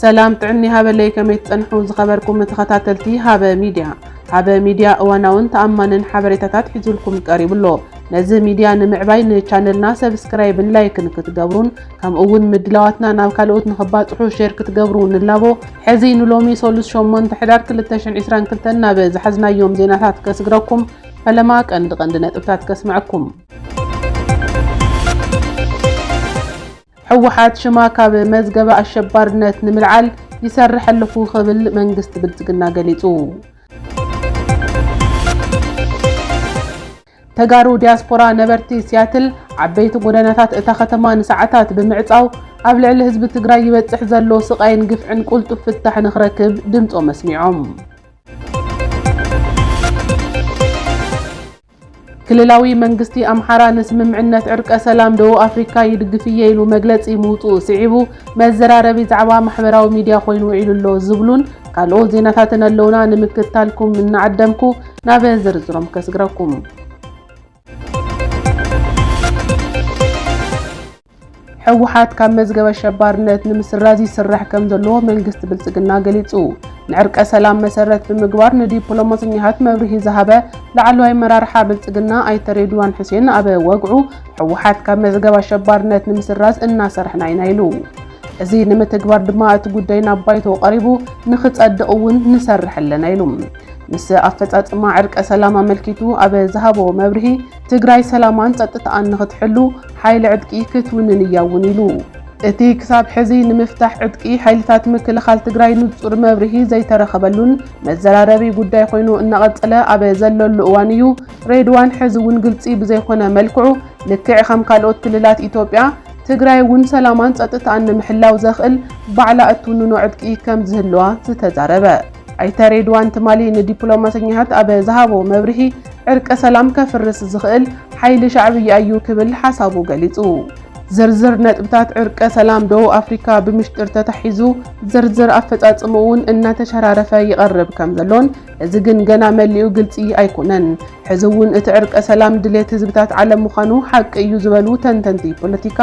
ሰላም ጥዕና ይሃበለይ ከመይ ትጸንሑ ዝኸበርኩም ተኸታተልቲ ሃበ ሚድያ ሃበ ሚድያ እዋናውን ተኣማንን ሓበሬታታት ሒዙልኩም ቀሪቡ ኣሎ ነዚ ሚድያ ንምዕባይ ንቻነልና ሰብስክራይብን ላይክን ክትገብሩን ከምኡ እውን ምድላዋትና ናብ ካልኦት ንኽባፅሑ ሼር ክትገብሩ ንላቦ። ሕዚ ንሎሚ ሰሉስ ሸሞንተ ሕዳር ክልተ ሽሕን ዒስራን ክልተን ናብ ዝሓዝናዮም ዜናታት ከስግረኩም ፈለማ ቀንዲ ቀንዲ ነጥብታት ከስምዐኩም። ህወሓት ሽማ ካብ መዝገበ ኣሸባርነት ንምልዓል ይሰርሕ ኣለኹ ክብል መንግስቲ ብልፅግና ገሊፁ። ተጋሩ ዲያስፖራ ነበርቲ ሲያትል ዓበይቲ ጎደናታት እታ ከተማ ንሰዓታት ብምዕጻው ኣብ ልዕሊ ህዝቢ ትግራይ ይበጽሕ ዘሎ ስቓይን ግፍዕን ቁልጡፍ ፍታሕ ንኽረክብ ድምጾም ኣስሚዖም። ክልላዊ መንግስቲ ኣምሓራ ንስምምዕነት ዕርቀ ሰላም ደቡብ ኣፍሪካ ይድግፍ እየ ኢሉ መግለፂ ምውፅኡ ስዒቡ መዘራረቢ ዛዕባ ማሕበራዊ ሚድያ ኮይኑ ውዒሉ ኣሎ ዝብሉን ካልኦት ዜናታትን ኣለውና ንምክትታልኩም እናዓደምኩ ናብ ዝርዝሮም ከስግረኩም። ሕወሓት ካብ መዝገበ ሸባርነት ንምስራዝ ይስራሕ ከም ዘለዎ መንግስቲ ብልፅግና ገሊፁ። ንዕርቀ ሰላም መሰረት ብምግባር ንዲፕሎማሰኛታት መብርሂ ዝሃበ ላዕለዋይ ኣመራርሓ ብልፅግና ኣይተ ሬድዋን ሑሴን ኣብ ወግዑ ህወሓት ካብ መዝገብ ኣሸባሪነት ንምስራዝ እናሰርሕና ኢና ኢሉ። እዚ ንምትግባር ድማ እቲ ጉዳይ ናብ ባይቶ ቀሪቡ ንክፀድቕ እውን ንሰርሕ ኣለና ኢሉ። ምስ ኣፈፃፅማ ዕርቀ ሰላም ኣመልኪቱ ኣብ ዝሃቦ መብርሂ ትግራይ ሰላማን ፀጥታኣን ንክትሕሉ ሓይሊ ዕጥቂ ክትውንን እያ እውን ኢሉ። እቲ ክሳብ ሕዚ ንምፍታሕ ዕጥቂ ሓይልታት ምክልኻል ትግራይ ንፁር መብርሂ ዘይተረኸበሉን መዘራረቢ ጉዳይ ኮይኑ እናቐፀለ ኣብ ዘለሉ እዋን እዩ ሬድዋን ሕዚ ውን ግልፂ ብዘይኮነ መልክዑ ልክዕ ከም ካልኦት ክልላት ኢትዮጵያ ትግራይ ውን ሰላማን ፀጥትኣን ንምሕላው ዘኽእል ባዕላ እትውንኖ ዕጥቂ ከም ዝህልዋ ዝተዛረበ ኣይተ ሬድዋን ትማሊ ንዲፕሎማሰኛታት ኣብ ዝሃቦ መብርሂ ዕርቀ ሰላም ከፍርስ ዝኽእል ሓይሊ ሻዕብያ እዩ ክብል ሓሳቡ ገሊፁ። ዝርዝር ነጥብታት ዕርቀ ሰላም ደቡብ ኣፍሪካ ብምሽጥር ተታሒዙ ዝርዝር ኣፈፃፅምኡ ውን እናተሸራረፈ ይቐርብ ከም ዘሎን እዚ ግን ገና መሊኡ ግልፂ ኣይኮነን። ሕዚ እውን እቲ ዕርቀ ሰላም ድሌት ህዝብታት ዓለም ምዃኑ ሓቂ እዩ ዝበሉ ተንተንቲ ፖለቲካ፣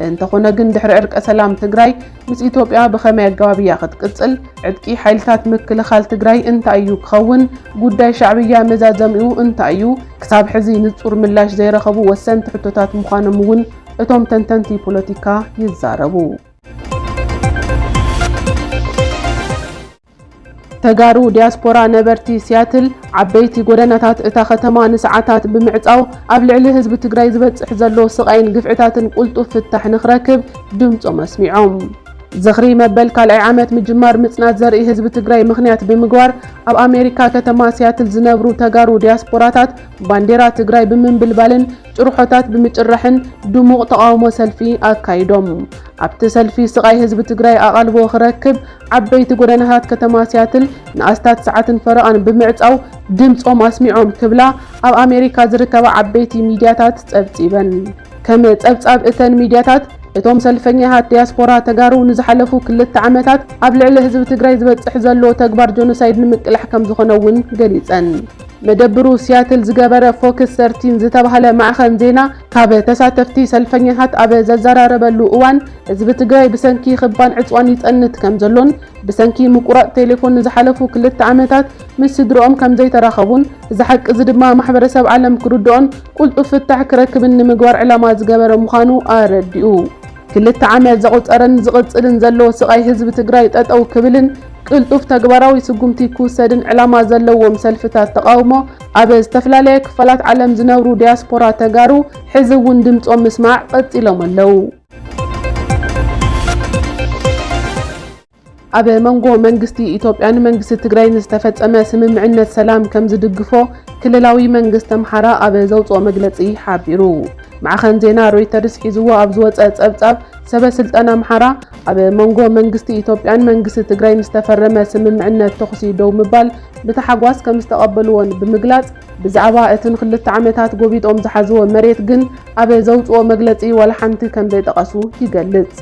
እንተኾነ ግን ድሕሪ ዕርቀ ሰላም ትግራይ ምስ ኢትዮጵያ ብኸመይ ኣገባብ እያ ክትቅፅል? ዕጥቂ ሓይልታት ምክልኻል ትግራይ እንታይ እዩ ክኸውን? ጉዳይ ሻዕብያ መዛዘሚኡ እንታይ እዩ? ክሳብ ሕዚ ንፁር ምላሽ ዘይረኸቡ ወሰንቲ ሕቶታት ምዃኖም እውን እቶም ተንተንቲ ፖለቲካ ይዛረቡ። ተጋሩ ዲያስፖራ ነበርቲ ሲያትል ዓበይቲ ጎደናታት እታ ከተማ ንሰዓታት ብምዕጻው ኣብ ልዕሊ ህዝቢ ትግራይ ዝበጽሕ ዘሎ ስቓይን ግፍዕታትን ቁልጡፍ ፍታሕ ንኽረክብ ድምጾም ኣስሚዖም። ዝኽሪ መበል ካልኣይ ዓመት ምጅማር ምጽናት ዘርኢ ህዝቢ ትግራይ ምኽንያት ብምግባር ኣብ ኣሜሪካ ከተማ ሲያትል ዝነብሩ ተጋሩ ዲያስፖራታት ባንዴራ ትግራይ ብምንብልባልን ጭርሖታት ብምጭራሕን ድሙቕ ተቓውሞ ሰልፊ ኣካይዶም። ኣብቲ ሰልፊ ስቓይ ህዝቢ ትግራይ ኣቓልቦ ክረክብ ዓበይቲ ጎደናታት ከተማ ሲያትል ንኣስታት ሰዓትን ፈረቓን ብምዕጻው ድምጾም ኣስሚዖም ክብላ ኣብ ኣሜሪካ ዝርከባ ዓበይቲ ሚድያታት ጸብጺበን። ከም ጸብጻብ እተን ሚድያታት፣ እቶም ሰልፈኛታት ዲያስፖራ ተጋሩ ንዝሓለፉ ክልተ ዓመታት ኣብ ልዕሊ ህዝቢ ትግራይ ዝበጽሕ ዘሎ ተግባር ጆኖሳይድ ንምቅላሕ ከምዝኾነ እውን ገሊጸን። መደብሩ ሲያትል ዝገበረ ፎክስ ሰርቲን ዝተባህለ ማዕኸን ዜና ካብ ተሳተፍቲ ሰልፈኛታት ኣብ ዘዘራረበሉ እዋን ህዝቢ ትግራይ ብሰንኪ ክባን ዕፅዋን ይፀንት ከምዘሎን ብሰንኪ ምቁራፅ ቴሌፎን ንዝሓለፉ ክልተ ዓመታት ምስ ስድርኦም ከምዘይተራኸቡን እዚ ሓቂ እዚ ድማ ማሕበረሰብ ዓለም ክርድኦን ቁልጡፍ ፍታሕ ክረክብን ንምግባር ዕላማ ዝገበረ ምዃኑ ኣረዲኡ። ክልተ ዓመት ዘቑፀረን ዝቕፅልን ዘሎ ስቓይ ህዝቢ ትግራይ ጠጠው ክብልን ቅልጡፍ ተግባራዊ ስጉምቲ ክውሰድን ዕላማ ዘለዎም ሰልፍታት ተቓውሞ ኣብ ዝተፈላለየ ክፋላት ዓለም ዝነብሩ ዲያስፖራ ተጋሩ ሕዚ እውን ድምፆም ምስማዕ ቐፂሎም ኣለው። ኣብ መንጎ መንግስቲ ኢትዮጵያን መንግስቲ ትግራይን ዝተፈፀመ ስምምዕነት ሰላም ከምዝድግፎ ክልላዊ መንግስቲ ኣምሓራ ኣብ ዘውፅኦ መግለፂ ሓቢሩ። ማዕኸን ዜና ሮይተርስ ሒዝዎ ኣብ ዝወፀ ፀብፃብ፣ ሰበ ስልጣን ኣምሓራ ኣብ መንጎ መንግስቲ ኢትዮጵያን መንግስቲ ትግራይን ዝተፈረመ ስምምዕነት ተኹሲ ደው ምባል ብታሕጓስ ከምዝተቐበልዎን ብምግላፅ፣ ብዛዕባ እቲ ንክልተ ዓመታት ጎቢጦም ዝሓዝዎ መሬት ግን ኣብ ዘውፅኦ መግለፂ ዋላ ሓንቲ ከምዘይጠቐሱ ይገልፅ።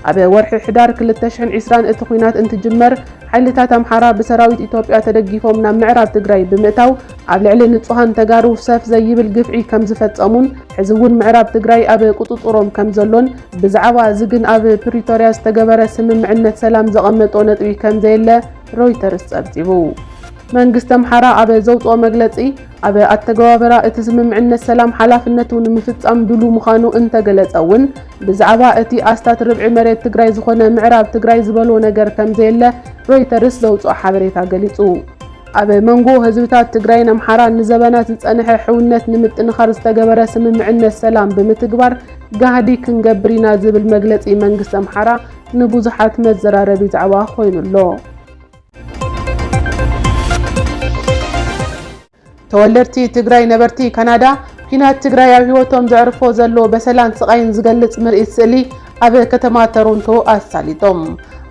ኣብ ወርሒ ሕዳር ክልተ ሽሕን ዒስራን እቲ ኹናት እንትጅመር ሓይልታት ኣምሓራ ብሰራዊት ኢትዮጵያ ተደጊፎም ናብ ምዕራብ ትግራይ ብምእታው ኣብ ልዕሊ ንፁሃን ተጋሩ ሰፍ ዘይብል ግፍዒ ከምዝፈፀሙን ሕዚ እውን ምዕራብ ትግራይ ኣብ ቁፅፁሮም ከምዘሎን ብዛዕባ እዚ ግን ኣብ ፕሪቶርያ ዝተገበረ ስምምዕነት ሰላም ዘቐመጦ ነጥቢ ከምዘየለ ሮይተርስ ፀብፂቡ። መንግስቲ ኣምሓራ ኣብ ዘውፅኦ መግለፂ ኣብ ኣተገባብራ እቲ ስምምዕነት ሰላም ሓላፍነቱ ንምፍፃም ድሉው ምዃኑ እንተገለፀ እውን ብዛዕባ እቲ ኣስታት ርብዒ መሬት ትግራይ ዝኾነ ምዕራብ ትግራይ ዝበሎ ነገር ከምዘየለ ሮይተርስ ዘውፅኦ ሓበሬታ ገሊፁ። ኣብ መንጎ ህዝብታት ትግራይን ኣምሓራን ንዘበናት ዝፀንሐ ሕውነት ንምጥንኻር ዝተገበረ ስምምዕነት ሰላም ብምትግባር ጋህዲ ክንገብር ኢና ዝብል መግለፂ መንግስቲ ኣምሓራ ንብዙሓት መዘራረቢ ዛዕባ ኮይኑ ኣሎ። ተወለድቲ ትግራይ ነበርቲ ካናዳ ኲናት ትግራይ ኣብ ህይወቶም ዘዕርፎ ዘሎ በሰላን ስቓይን ዝገልጽ ምርኢት ስእሊ ኣብ ከተማ ቶሮንቶ ኣሳሊጦም።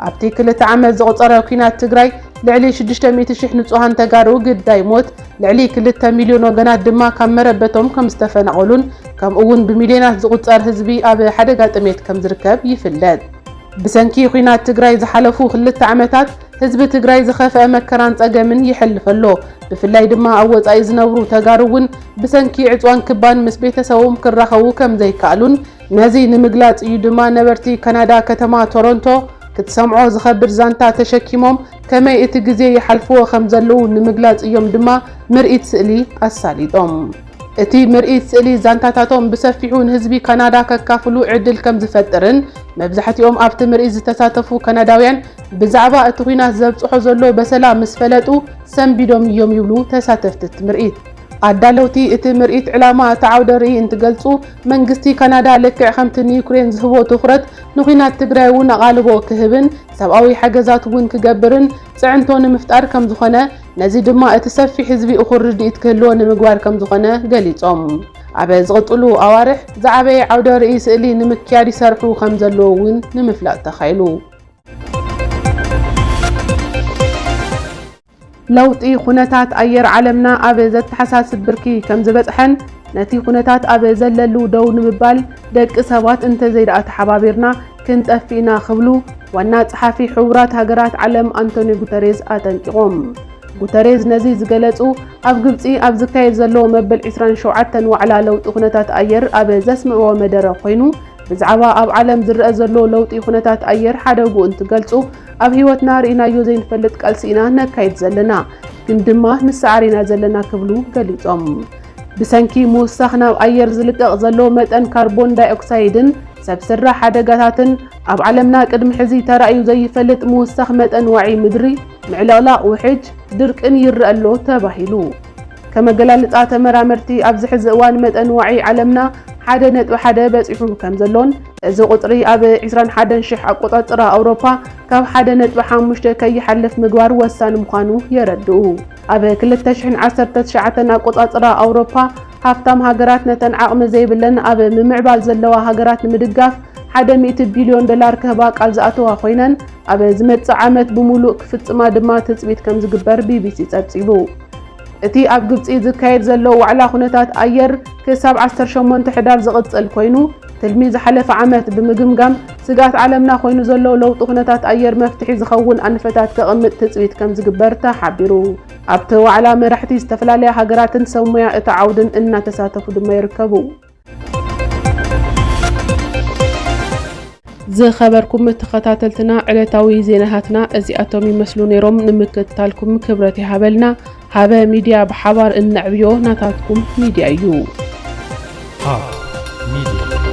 ኣብቲ ክልተ ዓመት ዘቑጸረ ኲናት ትግራይ ልዕሊ 600,000 ንጹሃን ተጋሩ ግዳይ ሞት፣ ልዕሊ ክልተ ሚልዮን ወገናት ድማ ካብ መረበቶም ከም ዝተፈናቐሉን ከምኡ'ውን ብሚልዮናት ዝቑጸር ህዝቢ ኣብ ሓደጋ ጥሜት ከም ዝርከብ ይፍለጥ። ብሰንኪ ኹናት ትግራይ ዝሓለፉ ክልተ ዓመታት ህዝቢ ትግራይ ዝኸፍኣ መከራን ፀገምን ይሕልፍ ኣሎ። ብፍላይ ድማ ኣብ ወፃኢ ዝነብሩ ተጋሩ እውን ብሰንኪ ዕፅዋን ክባን ምስ ቤተሰቦም ክራኸቡ ከምዘይከኣሉን ነዚ ንምግላፅ እዩ ድማ ነበርቲ ካናዳ ከተማ ቶሮንቶ ክትሰምዖ ዝኸብድ ዛንታ ተሸኪሞም ከመይ እቲ ግዜ ይሓልፍዎ ከምዘለዉ ንምግላፅ እዮም ድማ ምርኢት ስእሊ ኣሳሊጦም። እቲ ምርኢት ስእሊ ዛንታታቶም ብሰፊሑ ንህዝቢ ካናዳ ከካፍሉ ዕድል ከም ዝፈጥርን መብዛሕቲኦም ኣብቲ ምርኢት ዝተሳተፉ ካናዳውያን ብዛዕባ እቲ ኲናት ዘብጽሖ ዘሎ በሰላ ምስ ፈለጡ ሰንቢዶም እዮም ይብሉ ተሳተፍቲ እቲ ምርኢት። ኣዳለውቲ እቲ ምርኢት ዕላማ እቲ ዓውደ ርእይ እንትገልጹ፣ መንግስቲ ካናዳ ልክዕ ከምቲ ንዩክሬን ዝህቦ ትኹረት ንኲናት ትግራይ እውን ኣቓልቦ ክህብን ሰብኣዊ ሓገዛት እውን ክገብርን ፅዕንቶ ንምፍጣር ከም ዝኾነ ነዚ ድማ እቲ ሰፊሕ ህዝቢ እኹል ርድኢት ክህልዎ ንምግባር ከምዝኾነ ገሊፆም። ኣብ ዝቕፅሉ ኣዋርሕ ዝዓበየ ዓውደ ርእይ ስእሊ ንምክያድ ይሰርሑ ከምዘለዉ እውን ንምፍላጥ ተኻኢሉ። ለውጢ ኩነታት ኣየር ዓለምና ኣብ ዘተሓሳስብ ብርኪ ከምዝበፅሐን ነቲ ኩነታት ኣብ ዘለሉ ደው ንምባል ደቂ ሰባት እንተዘይ ደኣ ተሓባቢርና ክንጠፍእ ኢና ክብሉ ዋና ጸሓፊ ሕቡራት ሃገራት ዓለም ኣንቶኒ ጉተሬዝ ኣጠንቂቖም። ጉተሬዝ ነዚ ዝገለጹ ኣብ ግብጺ ኣብ ዝካየድ ዘሎ መበል ዕስራን ሸውዓተን ዋዕላ ለውጢ ኩነታት ኣየር ኣብ ዘስምዕዎ መደረ ኮይኑ ብዛዕባ ኣብ ዓለም ዝረኣ ዘሎ ለውጢ ኩነታት ኣየር ሓደግኡ እንትገልጹ ኣብ ህይወትና ርኢናዮ ዘይንፈልጥ ቃልሲ ኢና ነካይድ ዘለና ግን ድማ ንሰዓር ኢና ዘለና ክብሉ ገሊጾም። ብሰንኪ ምውሳኽ ናብ ኣየር ዝልቀቕ ዘሎ መጠን ካርቦን ዳይኦክሳይድን፣ ሰብ ስራሕ ሓደጋታትን ኣብ ዓለምና ቅድሚ ሕዚ ተራእዩ ዘይፈልጥ ምውሳኽ መጠን ዋዒ ምድሪ፣ ምዕልቕላቕ ውሕጅ፣ ድርቅን ይረኣ ኣሎ ተባሂሉ። ከም ኣገላልፃ ተመራመርቲ ኣብዚ ሕዚ እዋን መጠን ዋዒ ዓለምና ሓደ ነጥቢ ሓደ በፂሑ ከምዘሎን እዚ ቁፅሪ ኣብ ዕስራን ሓደን ሽሕ ኣቆፃፅራ ኣውሮፓ ካብ ሓደ ነጥቢ ሓሙሽተ ከይሓልፍ ምግባር ወሳኒ ምዃኑ የረድኡ። ኣብ ክልተ ሽሕን ዓሰርተ ትሽዓተን ኣቆፃፅራ ኣውሮፓ ሃፍታም ሃገራት ነተን ዓቕሚ ዘይብለን ኣብ ምምዕባል ዘለዋ ሃገራት ንምድጋፍ ሓደ ሚእቲ ቢልዮን ዶላር ክህባ ቃል ዝኣተዋ ኮይነን ኣብ ዝመጽእ ዓመት ብምሉእ ክፍጽማ ድማ ትጽቢት ከምዝግበር ቢቢሲ ጸብጺቡ። እቲ ኣብ ግብጺ ዝካየድ ዘሎ ዋዕላ ኩነታት ኣየር ክሳብ ዓሰርተ ሸሞንተ ሕዳር ዝቕጽል ኮይኑ፣ ትልሚ ዝሓለፈ ዓመት ብምግምጋም ስግኣት ዓለምና ኮይኑ ዘሎ ለውጢ ኩነታት ኣየር መፍትሒ ዝኸውን ኣንፈታት ከቐምጥ ትጽቢት ከምዝግበር ተሓቢሩ። ኣብቲ ዋዕላ መራሕቲ ዝተፈላለያ ሃገራትን ሰብ ሞያ እቲ ዓውድን እናተሳተፉ ድማ ይርከቡ። ዝኸበርኩም ተኸታተልትና ዕለታዊ ዜናታትና እዚኣቶም ይመስሉ ነይሮም። ንምክትታልኩም ክብረት ይሃበልና። ሃበ ሚድያ ብሓባር እነዕብዮ ናታትኩም ሚድያ እዩ።